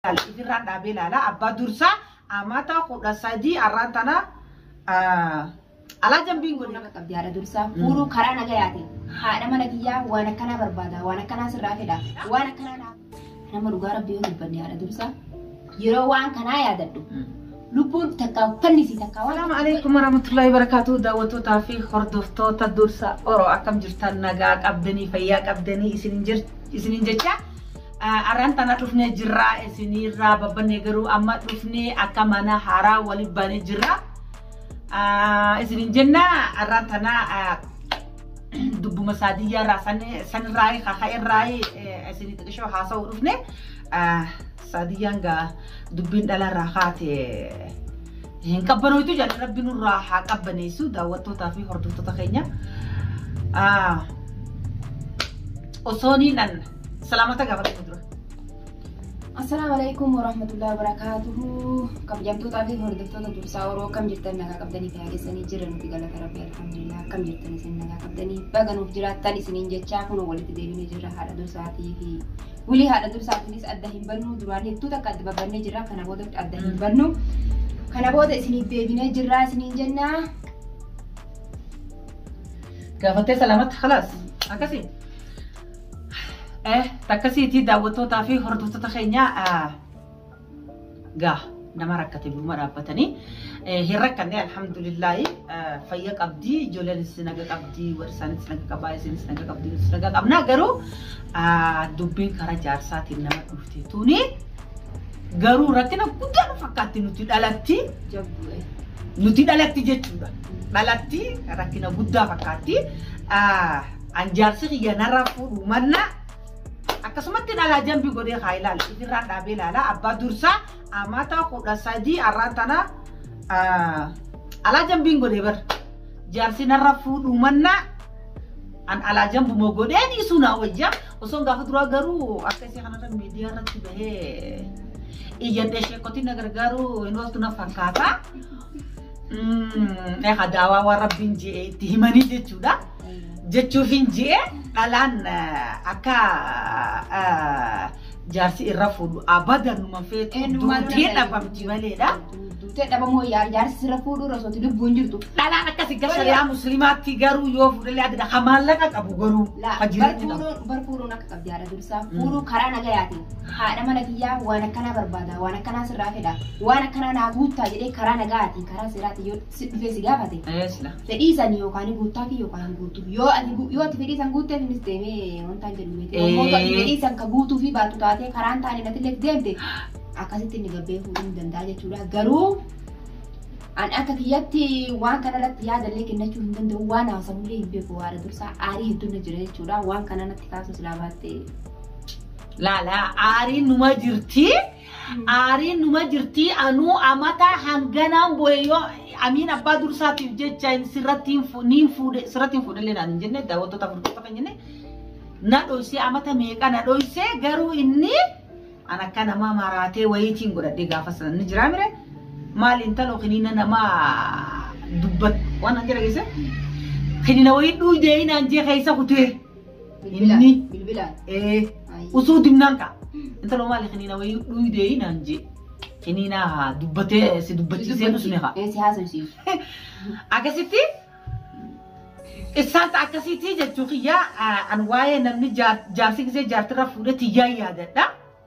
ilaala ifirraan dhaabee ilaala abbaa dursaa amata kudha sadii arraan tana alaa jambiin godhe. nama qabdi haadha dursaa fuudhuu karaa nagayaati haadha mana kiyyaa waan akkanaa barbaada waan akkanaa sirraa fedha waan akkanaa naaf nama dhugaa rabbi yoo dubbanne haadha dursaa yeroo waan kanaa yaadadhu Lubbuun takkaa uffanni isii takkaa waan Salaamu alaikum warahmatullahi wabarakatuh daawwattootaa fi hordoftoota dursa oro akkam jirtan nagaa qabdanii fayyaa qabdanii isinin jir isinin jecha arran tana dhufnee jirraa isinirraa babbannee garuu amma dhufnee akka mana haaraa wali baanee jirra isinin jenna arran tana dubbuma saadiyyaa irraa sanirraa kaka'e irraa isinii xiqishoo haasa'uu dhufne Saadiyyaan gaa dubbiin dhalarraa kaate hin qabbanooytu jedhan rabbi nurraa haa qabbaneessu daawwattootaa fi hordoftoota keenya. Osoo niin an salaamata gaafatame dura. Assalaamu alaikum warahmatullahi wabarakatuhu. Kabajamtootaa fi hordoftoota dursaa oroo akkam jirtan nagaa qabdanii fi haagessanii jiran nuti galata rabbi alhamdulillah akkam jirtan isin nagaa qabdanii baga nuuf jiraattan isiniin jechaa kun walitti deebinee jirra haadha dursaatii fi Wulii haadha dursaa kunis adda hin bannu duraan hedduu takka adda babbannee jirra kana booda adda hin bannu kana booda isiniif deebinee jirra isiniin jenna. Gaafattee salaamatti halaas akkasii. Eh, takkasiitii daawwattootaa fi hordoftoota keenyaa gaa nama rakkate biruma dhaabbatanii hin rakkanne alhamdulillaahi fayya qabdii ijoollenis naga qabdii warri isaanis naga qabaa isinis naga qabdii nutis naga qabnaa garuu dubbiin karaa jaarsaatiin nama dhufte tuni garuu rakkina guddaa nu fakkaatti nuti dhalatti nuti dhalatti jechuudha dhalatti rakkina guddaa fakkaatti an jaarsi kiyya narraa fuudhu mannaa Akkasumatti dhalaa jambii godhee haa ilaalu. Ifirraan dhaabee ilaalaa abbaa dursaa amata kudha sadii arraan tana alaa jambiin godhee bar. Jaarsi narra fuudhuu mannaa an alaa jambumoo godhee dhiisuu naa wayya. Osoon gaafa duraa garuu akka isii kanarra miidiyaa irratti bahee iyyadhee sheekotiin na gargaaruu hin ooltu na fakkaata. Egaa daawaa waan rabbiin je'e itti himanii jechuudha. jechuufin ji'e dhalaan eh, akka eh, jaarsi irra fuudhu abadan numa feetu Eenyu maal duutee nama dhabamti maleedha. Duutee dhabamoo yaa jaarsi sirra fuudhuu irra osooti lubbuun jirtu. Dhalaan akkasii gara shari'aa musliimaatti garuu yoo fuudhalee adda kan maallaqa qabu garuu Laa kan jireenya qabu. barfuudhuun barfuudhuun akka qabdi haadha dursaa fuudhuu karaa nagayaatiin haadha mana kiyyaa waan akkanaa barbaada waan akkanaa sirraa fedha waan akkanaa naa guuttaa jedhee karaa nagaatiin karaa seeraatiin yoo si dhufee si gaafate Ee sila. fedhii san yookaan guuttaafi yookaan hin guutu yoo ati gu- yoo ati fedhii san guutteef innis deemee wantaan jennu miti Ee. yommuu ati fedhii san ka guutuu fi baatu taatee karaan taane natillee itti deemte akkasitti inni gabbee fuudhuu ni danda'a jechuudha garuu ani akka kiyyatti waan kana irratti yaadallee kennachuu hin danda'u waan haasamullee hin beeku waara dursaa aarii hedduun na jira jechuudha waan kana natti kaasuu silaa baatte Laala aariin numa jirti. Aariin numa jirtii anuu amataa hanganaan boye yoo amiin abbaa dursaatiif jecha hin sirratti hin fu- niin fuudhe sirratti hin fuudhe illee naan hin jenne daawwattoota furdota kan jenne na dhoysee amata meeqa na dhoysee garuu inni an akka namaa maraatee wayiitiin godhadhee gaafa sana ni jiraa mire maal intaloo kiniina namaa dubbat waan an jedha geesse kiniina wayii dhuydee inaan jee keessa kutee. Bilbilaan. Inni- Bilbilaan. ee Ayyii. usuu dimnaan kaa intala maali kiniina wayii dhuydee naan jee kiniinaa haa dubbatee si dubbachiisee dhusne haa Ee, si haasofsiisu. akkasitti isaan akkasitti jechuu kiyyaa an waa'ee namni jaar- jaarsi gisee jaartirra fuudhee tiyyaa yaadadha.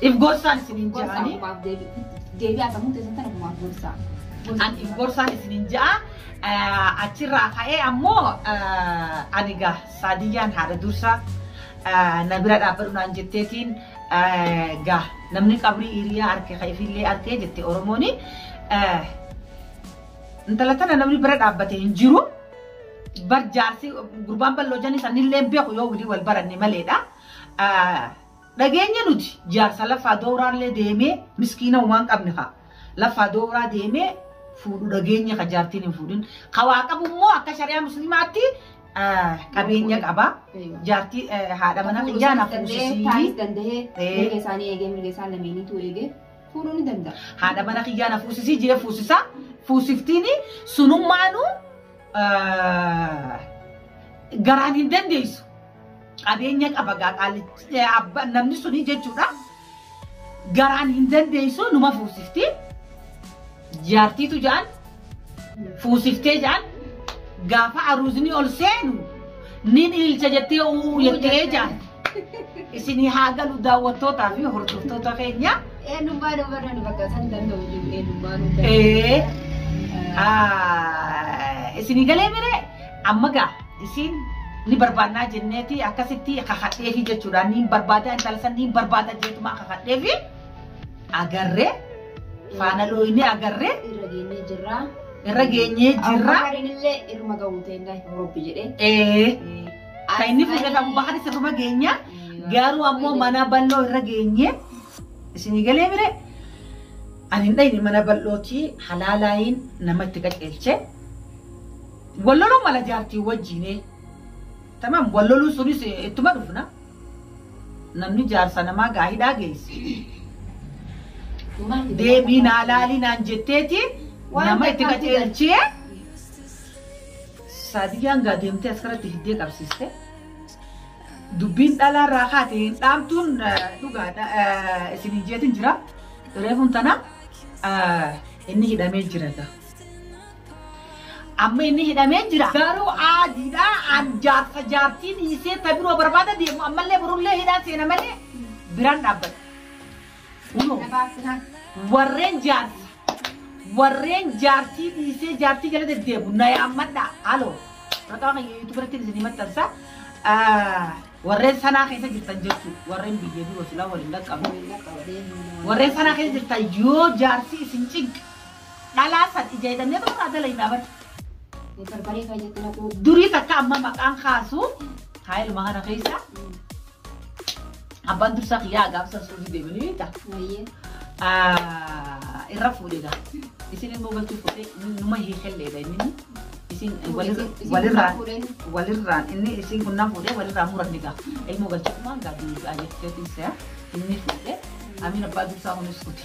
If gorsaan isiniin Gorsa ja'anii. ofumaaf deebi- deebi'aa sammuu keessan kan ofumaaf gorsaa. An if gorsaan isiniin ja'a. Eh, Achirraa ka'ee ammoo eh, ani gaa saadiyyaan haadha dursaa eh, na bira dhaabbadhu naan jetteetiin eh, gaa namni qabrii hiriyaa arke ka ifillee arkee jette Oromooni. Eh, Intala tana namni bira dhaabbate hin jiru. Bar jaarsi gurbaan bal'oo janii sanillee hin beeku yoo walii wal baranne maleedha. Eh, Dhageenye nuti jaarsa laffaa dowraallee deemee miskiina humaan qabne ka laffaa dowraa deemee fuudhu dhageenye ka jaartiin hin fuudhin ka waa qabu immoo akka shari'aa muslimaatti eh, qabeenya qaba Eeywa. jaartii eh, haadha mana Fuudhuu kiyyaa na isaas danda'ee, fuusisii taanis danda'ee, Ee. mirga isaanii eegee, mirga isaan lameeniitu eegee, fuudhuu ni danda'a. haadha mana kiyyaa na fuusisii jee fuusisaa fuusiftiini sunummaanuu eh, garaan hin dandeessu qabeenya qaba gaa qaallichi eh, abba- namni suni jechuudha garaan hin dandeessu numa fuusifti jaartiitu jaan fuusiftee jaan gaafa aruuzni ol seenu nin ilcha jettee uu jettee jaan isinii haa galu daawwattootaa fi hordoftoota keenya Eenyummaa dubarra nu bakka san danda'u jiru eenyummaa nu danda'u. ee ah, isinii galee miree Amma gaa isiin ni barbaannaa jenneeti akkasitti kakadheefi jechuudha. Niin barbaada intala san niin barbaada jeetumaa kakadheefi agarree faana looyinee agarree Irra geenyee jirra. irra geenyee jirra. Abubakariin illee irma ga'uu ta'inna Roobbi jedhee. Ee kan inni fuudhata Abubakar sirruma geenya garuu ammoo mana bal'oo irra geenye isinii galee mire ani hin dhayne mana bal'ootii halaalaayiin nama itti qajeelche Wal loluu mala jaartii wajjiinee. Tamam wal loluu sunis eh, ittuma dhufna. Namni jaarsa namaa gaa hidhaa geesse. Dhugaan itti Deebii naa gaafatamaa laalii naan jetteeti Waan nama itti takkaatu qajeelchee. Saadiyyaan gaa deemtee as karatti fiddee qabsiiste. Dubbiin dhalaa irraa kaate hin dhaamtuun eh, dhugaadha eh, isin hin jeetin jira. Reefun tana eh, inni hidhamee jira gaa. Amma inni hidhamee jira. Garuu aadiidha an jaarsa jaartii dhiisee ta biroo barbaada deemu ammallee borullee hidhaan seena malee biraan dhaabbata. Kunoo Na baasina. warreen jaarsa warreen jaartii dhiisee jaartii jala deddeebu na yaammadha. Halo maqaa kan yuutuub irratti isin himattansa warreen sanaa keessa jirtan jechuudha. Warreen biyya biroo silaa waliin dhaqqabu. Warreen sanaa keessa jirtan yoo jaarsi isin cinqe Dhalaa san ija hidhannee tuma irraa dalaynaa bar. Mee barbaree faa jette naquu. Durii takka amma maqaan kaasu haa ilma kana keessa abbaan dursaa kiyyaa agaabsan suudii deemanii beekta. Wayyee. Ah, irra fuudhe gaa. Isin immoo galchuu fuudhe numa hiikelleedha inni. Isin Fuudhe, walirra- isin- isin walirraan fuudhe. walirraan inni isin kunnaan fuudhe walirraa muranni gaa. Ilmoo galchuumaan gaa duudhaa jetteetiin se'a inni fuudhe. Amiin abbaa dursaa kunis fuudhe.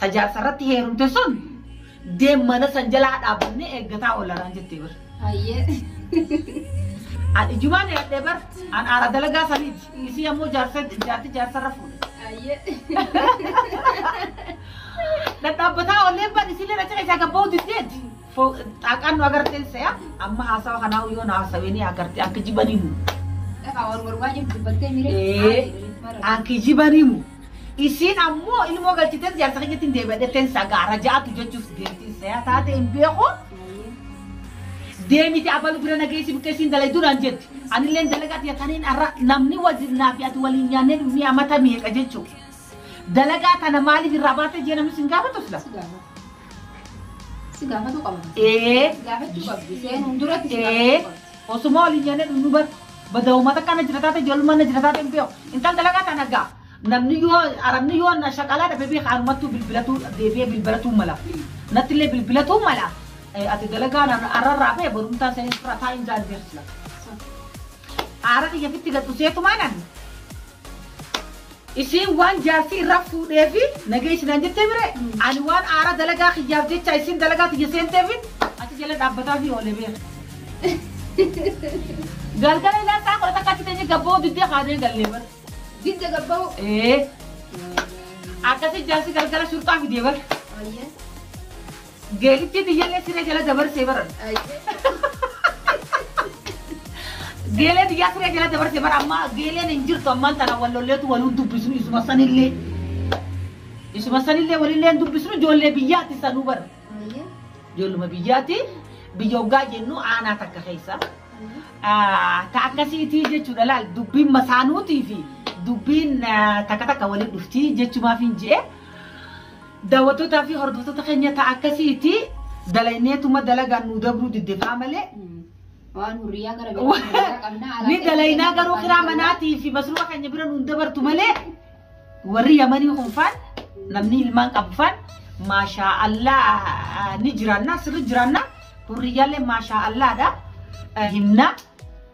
Ta jaarsarratti heerumte sun deem mana san jalaa dhaabbannee eeggataa oolla naan jettee bar. Hayyee. An ijumaan yaadhee bar an aara dalagaa saniiti. Isii ammoo jaarsa jaarti jaarsarra fuudhe. Hayyee. Dhadhaabbataa oolleen bar isiillee na cina isaa gabba'uu diddeeti. Fo- Xaaqaan nu agartee se'a amma haasawa kanaa yoo na haasawee ni agartee akka jibanii mu. Dhagaa wal wal waajjin dubbattee miiree. Ee, Akka jibanii mu. Isiin ammoo ilmoo galchitee siyaasa keenyatti hin deebi'atee sagaara ja'atu jechuuf deemtiin se'a taate hin beeku. Deemiti abalu bira nageessi buqqeessiin dalayduu naan jetti. Anillee dalagaati yataniin har'a namni wajjin naa fi ati waliin nyaannee dhufnee amata meeqa jechuudha. Dalagaa tana maaliif irraa baatee jee namni sin gaafatu sila? Si gaafatu. Si gaafatu qaba. Ee. Si gaafachuu qabdi. Seenuun duratti si Ee. gaafachuu qabdi. Osuma waliin jennee dhumnu bar. Bada uummata kana jira taate ijoollummaa na jira taate hin beeku. Intal dalagaa tana gaa. Namni yoo arabni yoo na shaqalaa dhabe beeka anumattuu bilbilatuu deebi'ee bilbilatuu mala. Natti illee bilbilatuu mala. Ee, Ati dalagaa na arrarraa bee borumtaa seenee sirraa taa'in jaan jeersila. Aara kiyya fitti gad dhuseetumaa nani. Isiin waan jaarsi irraa fuudheefi na geessi naan jettee mire ani waan aara dalagaa kiyyaaf jecha isiin dalagaa tiyya seenteefi achi jala dhaabbataafii oole beeka. Galgala ilaa isaa kudha takka achi teenye gabboo diddee kaanee gallee bara. Didda gabba'u. Ee akkasi jaarsi galgala shurxaa fidee bara. Ayyee. Geetichi tiyyallee siree jala dabarsee baran. Geelee tiyyaa siree jala dabarsee bara ammaa geeleen hin jirtu ammaan tana wal lolleetu waliin dubbisnu isuma sanillee. Isuma sanillee walillee hin dubbisnu ijoollee biyyaatti sanuu bara. Ijoolluma biyyaatti biyya hoggaa jennu aanaa takka keessa. Ah, Ta akkasiitii jechuudha laal dubbiin masaanuutii fi dubbiin ah, takka takka waliin dhuftii jechumaaf hin je'e. Daawwattoota fi hordoftoota keenya ta'a akkasiiti dalayneetuma dalagaan nuu dabruu didde faa malee Waan hurriyaa gara biraa hurriyaa qabna. alaa ni keessa dalaynaa keessa garuu kiraa qabna. manaatii fi masruufa keenya bira nuun dabartu malee warri yamanii kun faan namni ilmaan qabu faan maashaa allaa ni jiraannaa sirri jiraannaa hurriyyaallee maashaa allaadha himnaa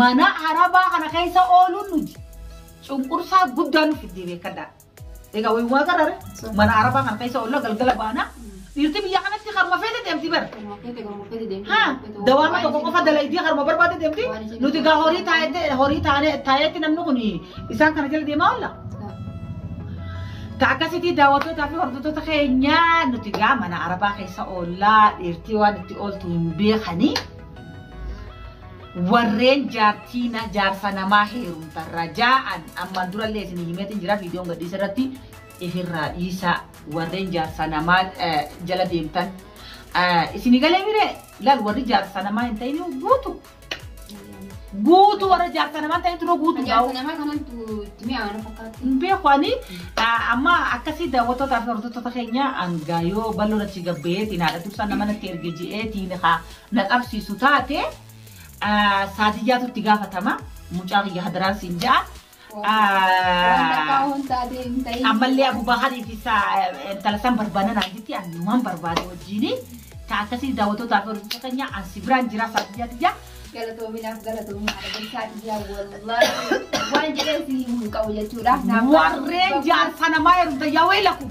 Mana Arabaa kana keessa ooluun nuti cunqursaa guddaa nu fiddee beekadhaa. Egaa wayii waa garare mana Arabaa kana keessa oolla galgala baana. Dhiirti biyya kanatti harma feete deemti bara. Ha dawaama tokko qofa dalaydii harma barbaade deemti. Nuti egaa horii taa'etti horii taa'ee taa'etti namni kun isaan kana jala deemaa oolla. Ta akkasitti daawwattootaa fi hordoftoota keenyaa nuti egaa mana Arabaa keessa oollaa dhiirtii waan itti ooltu hin beekanii. Warreen jaartii na jaarsa namaa heerumtan raja'an ammaan durallee isin himeetiin jira viidiyoon gadhiisa irratti ifirraa dhiisaa warreen jaarsa namaa eh, jala deemtan eh, isin galee mire laal warri jaarsa namaa hin ta'in guutu guutu warra jaarsa namaa hin ta'in turuu guutu Jaarsa namaa kanatu itti mi'aawaan fakkaatti. hin beeku ani eh, amma akkasii daawwattootaa fi hordoftoota keenya hangaa yoo bal'oo natti gabbeetiin haadha tubsaa nama natti erge je'eetiin haa na qabsiisu taate saadiyyaatu itti gaafatama mucaa kiyya hadaraan siin ja'a. Ammallee Abu Baharii fi intala san barbaada naan jetti annumaan barbaade wajjin ta akkasii daawwattoota fi hordoftoota keenya an si biraan jira saadiyyaa tiyya. Galatoominaaf galatoomaa adabbii saadiyyaa wallaahi waan jedhee si hin qabu jechuudha. Warreen jaarsa namaa heerumta yaa waylakum.